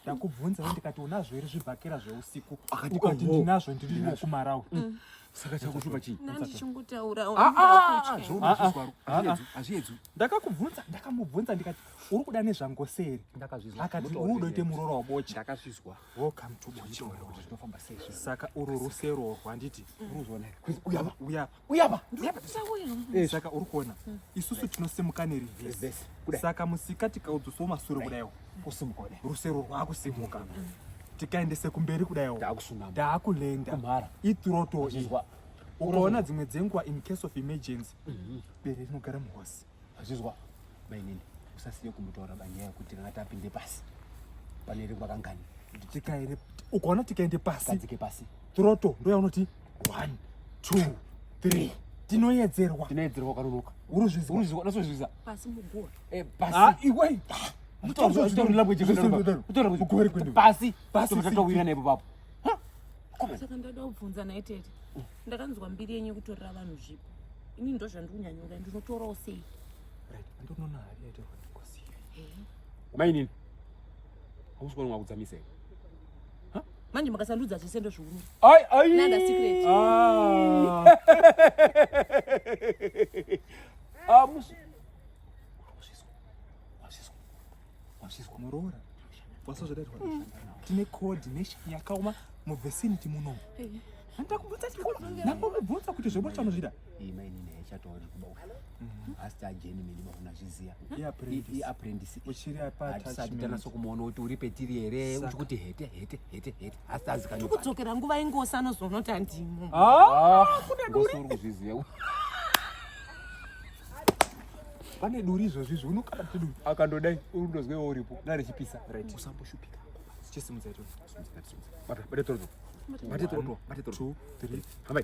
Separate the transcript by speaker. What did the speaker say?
Speaker 1: ndakubvunza we ndikati unazvo here zvibhakera zveusiku ukati oh, oh. ndinazvo ndiriwo kumarawi mm. saka chakuchupa chiiazviedzwi ndakakubvunza ndakamubvunza ndikati uri kuda nezvangoseri akati uri udoite muroro wabocha saka uru rusero rwanditi mm. uyapa uyapa eh, saka uri kuona hmm. isusu tinosimuka nerivhesi saka musika tikaudzoswo masure kudaiwo kusimuka rusero rwakusimuka hmm. tikaendese kumberi kudaiwo daakulenda ituroto ukaona dzimwe dzenguva in case of emergency mhm. bere rinogara muhosi Azvizwa mainini usasiye kumutaura banyaya kuti kana tapinde pasi pane rimwe kangani tikaende ukaona tikaende pasi kadzike pasi troto ndoya unoti one two three tinoyedzerwa tinoyedzerwa kanonoka uruzvizwa uruzvizwa unasozvizwa pasi mugoa eh pasi ah iwe pasi pasi tatohwira nepo papo saka ndada kubvunza naye tete ndakanzwa mbiri yenyu yekutorera vanhu zvipo ini ndo zvandikunyanyura ndinotorawo sei andinoona hari yaitorwa ndikosi mainini hausi kuona mwakudzamisei manje makasandudza zvese ndozviuno nanda secret ah. muroora wasazvodairwa mm. tine code nation yakaoma muvicinity muno handakubvunza ndakubvunza kuti zvebo chanozvida ima ini naye chatauri kuba mm-hmm. asi tajeni mini mauna zviziya iapprendisi uchiri apatisati tanasa kumuona kuti uri petiri here uchi kuti hete hete hete hete asi tazikanyo kudzokera nguva ingosi anozoona kuti handimo ah! ah! kune duri kuzviziva pane duri izvozvi izvi unokana kuti duri akandodai urundozwewo uripo ndarechipisa right usamboshupika chisimudza ito bata bata toroto bata toroto bata toroto hambai